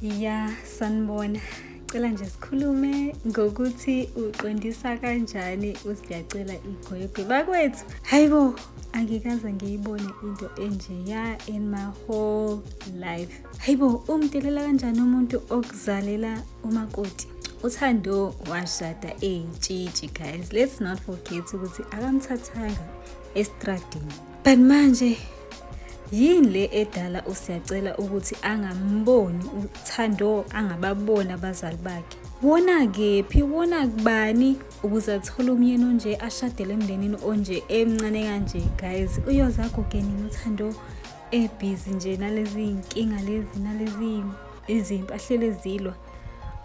ya sanibona cela nje sikhulume ngokuthi uqondisa kanjani usiyacela igwegwe bakwethu hayi bo angikaze ngiyibone into enjeya in my whole life hayi bo umdelela kanjani umuntu okuzalela umakoti uthando washada eyintshitshi guys let's not forget ukuthi akamthathanga estradini but manje yini le edala usiyacela ukuthi angamboni uthando angababoni abazali bakhe wona kephi wona kubani ukuze athole umyeni onje ashadele emndenini onje emncane kanje guys uyoze agogenini uthando ebhizi nje nalezi nkinga lezi nalezi izinto ahlele zilwa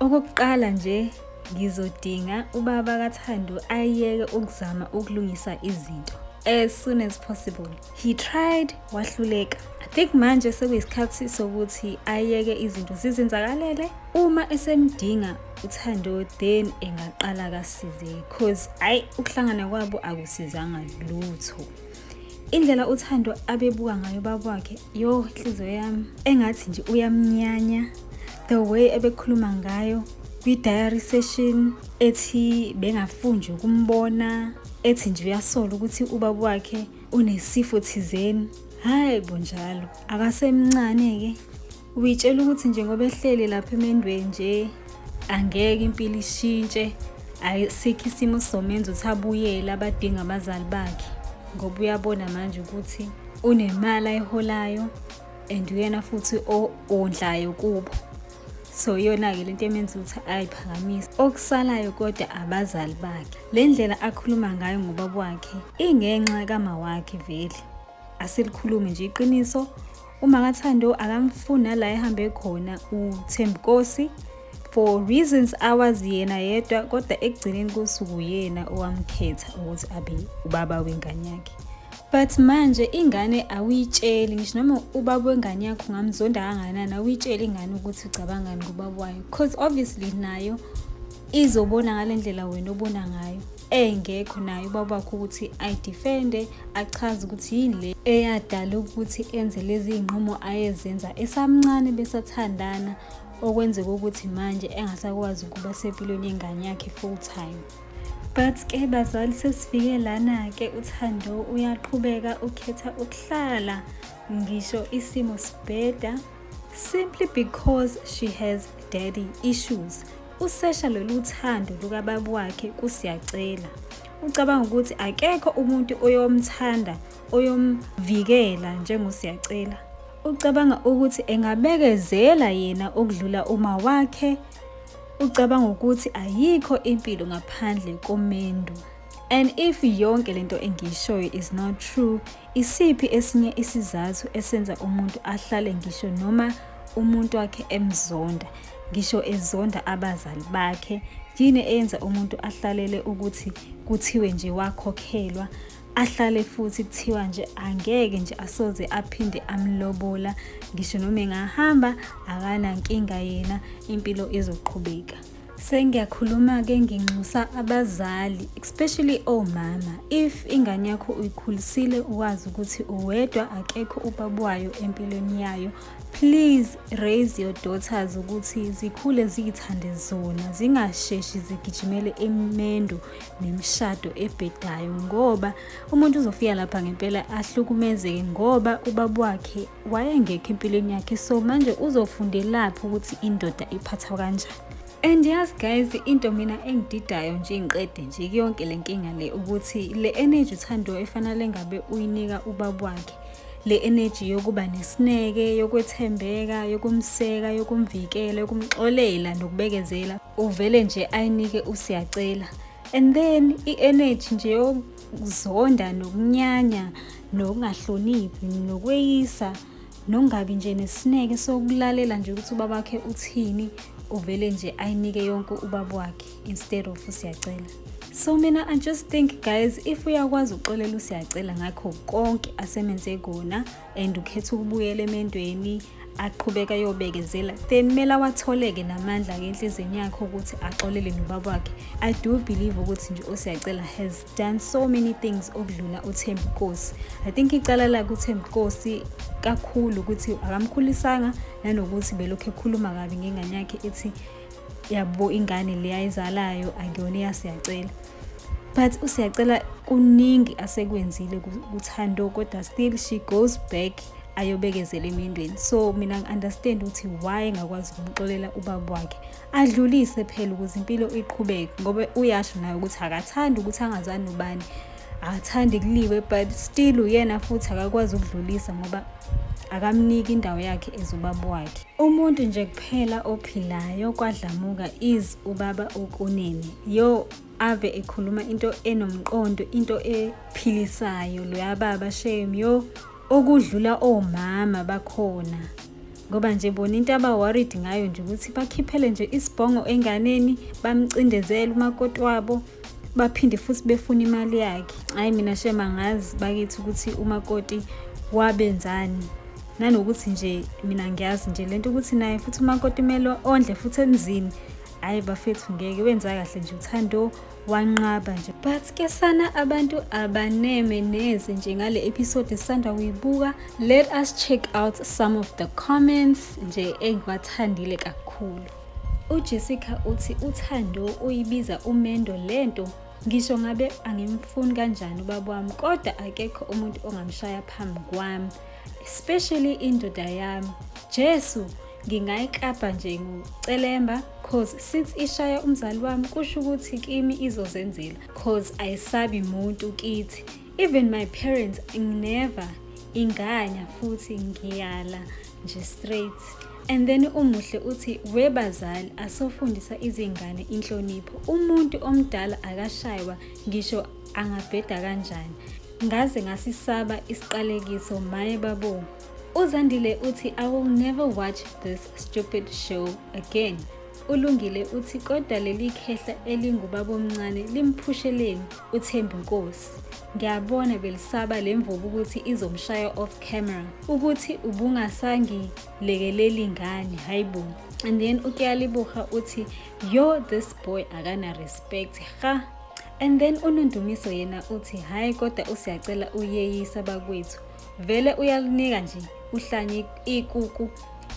Okokuqala nje ngizodinga ubaba kaThando ayeke ukuzama ukulungisa izinto as soon as possible he tried wahluleka i think manje sekuyisikhathi sokuthi ayeke izinto zizenzakalele uma esemdinga uthando then engaqala kasize cause ayi ukuhlangana kwabo akusizanga lutho indlela uthando abebuka ngayo babakhe yo inhliziyo yami engathi nje uyamnyanya the way ebekhuluma ngayo kwi-diary session ethi bengafunjwe ukumbona ethi nje uyasola ukuthi ubaba wakhe unesifo thizeni hayi bonjalo akasemncane-ke Uyitshela ukuthi nje ngoba ehleli lapha emendweni nje angeke impilo ishintshe ayisikho isimo somenza ukuthi abuyele abadinga abazali bakhe ngoba uyabona manje ukuthi unemali ayiholayo and uyena futhi ondlayo kubo so iyona-ke le nto emenza ukuthi ayiphakamise okusalayo kodwa abazali bakhe le ndlela akhuluma ngayo ngobaba wakhe ingenxa kamawakhe vele asilikhulumi nje iqiniso uma kathando akamfuni nala ehambe khona uthembkosi for reasons awazi yena yedwa kodwa ekugcineni kosuku yena owamkhetha ukuthi abe ubaba wengane yakhe but manje ingane awuyitsheli ngisho noma ubaba wengane yakho ungamzonda kanganani awuyitsheli ingane ukuthi ucabangani ngobaba wayo because obviously nayo izobona ngale ndlela wena obona ngayo engekho naye ubaba wakho ukuthi ayidefende achaze ukuthi yini le eyadala ukuthi enze lezi iy'nqumo ayezenza esamncane besathandana okwenzeka ukuthi manje engasakwazi ukuba sempilweni yengane yakhe full time but ke bazali sesifike lana-ke uthando uyaqhubeka ukhetha ukuhlala ngisho isimo sibheda simply because she has daddy issues Usesha lolu thando lukababa wakhe kusiyacela. Ucabanga ukuthi akekho umuntu oyomthanda oyomvikela njengosiyacela. Ucabanga ukuthi engabekezela yena okudlula uma wakhe. Ucabanga ukuthi ayikho impilo ngaphandle komendu. And if yonke lento engiyishoyo is not true, Isiphi esinye isizathu esenza umuntu ahlale ngisho noma umuntu wakhe emzonda, ngisho ezonda abazali bakhe? Yini eyenza umuntu ahlalele ukuthi kuthiwe nje wakhokhelwa ahlale futhi kuthiwa nje angeke nje asoze aphinde amlobola ngisho noma engahamba akanankinga yena impilo izoqhubeka Sengiyakhuluma-ke nginxusa abazali especially omama if ingane yakho uyikhulisile uwazi ukuthi uwedwa akekho ubaba wayo empilweni yayo please raise your daughters ukuthi zikhule ziyithande zona zingasheshi zigijimele imendo nemishado ebhedayo ngoba umuntu uzofika lapha ngempela ahlukumezeke ngoba ubaba wakhe wayengekho empilweni yakhe so manje uzofundelaphi ukuthi indoda iphathwa kanjani and yazi guys into mina engididayo nje ngiqede nje kuyonke le nkinga le ukuthi le energy uthandiwe efanele ngabe uyinika ubaba wakhe le energy yokuba nesineke yokwethembeka yokumseka yokumvikela yokumxolela nokubekezela uvele nje ayinike usiyacela and then i-energy nje ukuzonda nokunyanya nokungahloniphi nokweyisa nokungabi nje nesineke sokulalela nje ukuthi ubaba wakhe uthini uvele nje ayinike yonke ubaba wakhe instead of usiyacela so mina i just think guys if uyakwazi ukuxolela usiyacela ngakho konke asemenze kona and ukhetha ukubuyela emendweni aqhubeka yobekezela then kumele awatholeke namandla ke enhliziyweni yakhe ukuthi axolele nobaba wakhe i do believe ukuthi nje osiyacela has done so many things okudlula uthembi nkosi i think icala lakhe uthembi nkosi kakhulu ukuthi akamkhulisanga nanokuthi belokhu ekhuluma kabi ngengane yakhe ethi yabo ingane le ayizalayo akuyona eyasiyacela but usiyacela kuningi asekwenzile kuthando kodwa still she goes back ayobekezela emindweni so mina ngi-understand ukuthi why engakwazi ukumxolela ubaba wakhe adlulise phela ukuze impilo iqhubeke ngoba uyasho naye ukuthi akathandi ukuthi angazani nobani akathandi kuliwe but still uyena futhi akakwazi ukudlulisa ngoba akamniki indawo yakhe ezubaba wakhe Umuntu nje kuphela ophilayo kwadlamuka is ubaba ukunene. Yo ave ekhuluma into enomqondo, into ephilisayo loya baba shame yo okudlula omama bakhona. Ngoba nje bona into aba worried ngayo nje ukuthi bakhiphele nje isibhongo enganeni bamcindezele umakoti wabo baphinde futhi befuna imali yakhe hhayi mina shema ngazi bakithi ukuthi umakoti wabenzani nanokuthi nje mina ngiyazi nje lento ukuthi naye futhi umakoti kumele ondle futhi emzini hhayi bafethu ngeke wenza kahle nje uthando wanqaba nje but ke sana abantu abaneme neze nje ngale episode esisanda kuyibuka let us check out some of the comments nje engiwathandile kakhulu UJessica uthi uThando uyibiza umendo lento ngisho ngabe angimfuni kanjani ubaba wami kodwa akekho umuntu ongamshaya phambi kwami especially indoda yami Jesu ngingayiklabha nje ngocelemba cause since ishaya umzali wami kusho ukuthi kimi izozenzela cause ayisabi muntu kithi Even my parents never inganya futhi ngiyala nje straight and then umuhle uthi webazali asofundisa izingane inhlonipho umuntu omdala akashaywa ngisho angabheda kanjani ngaze ngasisaba isiqalekiso maye babo uzandile uthi i will never watch this stupid show again ulungile uthi kodwa leli khehla elingubabomncane limphusheleeni uThembi Nkosi. Ngiyabona belisaba le mvubu ukuthi izomshaya off camera ukuthi ubungasangilekeleli ngani hayibo and then ukuyalibuha uthi yo this boy akana respect ha and then unondumiso yena uthi hhayi kodwa usiyacela uyeyisa bakwethu vele uyalinika nje uhlanye ikuku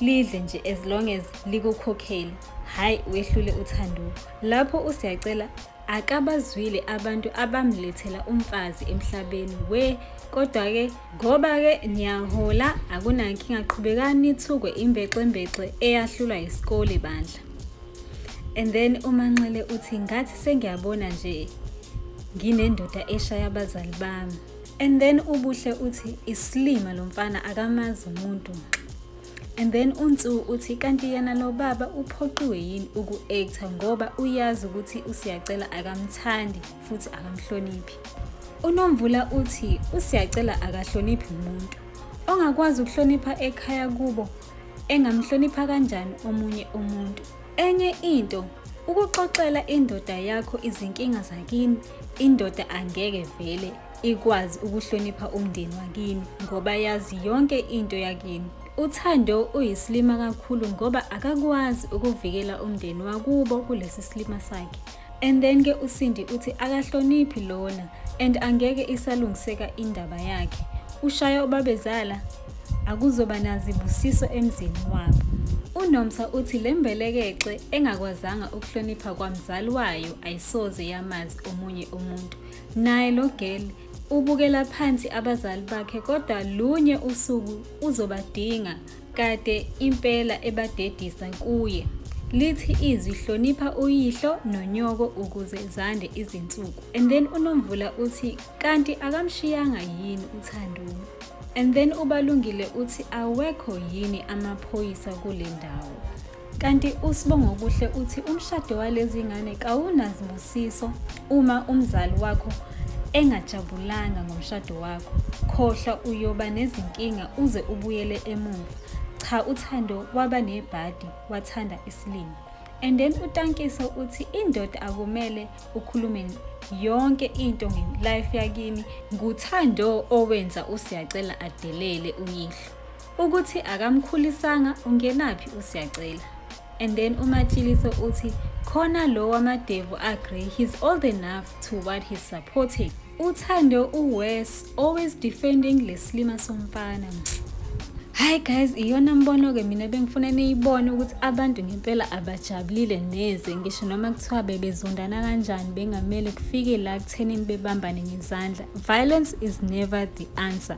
lidle nje as long as likukhokhele hhayi wehlule uthanduko lapho usiyacela akabazwile abantu abamlethela umfazi emhlabeni we kodwa-ke ngoba-ke niyahola akunankinga qhubekani nithukwe imbexembexe eyahlulwa yisikole bandla and then umanxele uthi ngathi sengiyabona nje nginendoda eshaya abazali bami and then ubuhle uthi isilima lo mfana akamazi umuntu And then uNsu uthi kanti yena lo baba uphoqiwe yini uku-actor ngoba uyazi ukuthi uSiyacela akamthandi futhi akamhloniphi. UNomvula uthi uSiyacela akahloniphi umuntu. Ongakwazi ukuhlonipha ekhaya kubo engamhlonipha kanjani omunye umuntu. Enye into ukuxoxela indoda yakho izinkinga zakini indoda angeke vele ikwazi ukuhlonipha umndeni wakini ngoba yazi yonke into yakini. UThando uyisilima kakhulu ngoba akakwazi ukuvikela umndeni wakubo kulesi silima sakhe. And then ke uSindi uthi akahloniphi lona and angeke isalungiseka indaba yakhe. Ushaya ubabezala akuzoba nazibusiso emzini wabo. UNomsa uthi le mbelekexe engakwazanga ukuhlonipha kwamzali wayo ayisoze yamazi omunye umuntu. Naye lo girl ubukela phansi abazali bakhe kodwa lunye usuku uzobadinga kade impela ebadedisa kuye. Lithi izwi hlonipha uyihlo nonyoko ukuze zande izinsuku. And then uNomvula uthi kanti akamshiyanga yini uThanduni. And then uBalungile uthi awekho yini amaphoyisa kule ndawo. Kanti uSibongokuhle uthi umshado walezi ngane kawunazibusiso uma umzali wakho engajabulanga ngomshado wakho. Khohlwa uyoba nezinkinga uze ubuyele emuva. Cha uThando waba nebhadi wathanda isilima. And then uTankiso uthi indoda akumele ukhulume yonke into nge-life yakini. NguThando owenza uSiyacela adelele uyihlo. Ukuthi akamkhulisanga ungenaphi uSiyacela. And then uMatshiliso uthi khona lo wamadevu agree he's old enough to what he's supporting. Uthando uWes always defending leslima somfana. Hi guys, iyona mbono ke mina bengifuna niyibone ukuthi abantu ngempela abajabulile neze ngisho noma kuthiwa bebezondana kanjani bengamele kufike la kuthenini bebambane ngezandla. Violence is never the answer.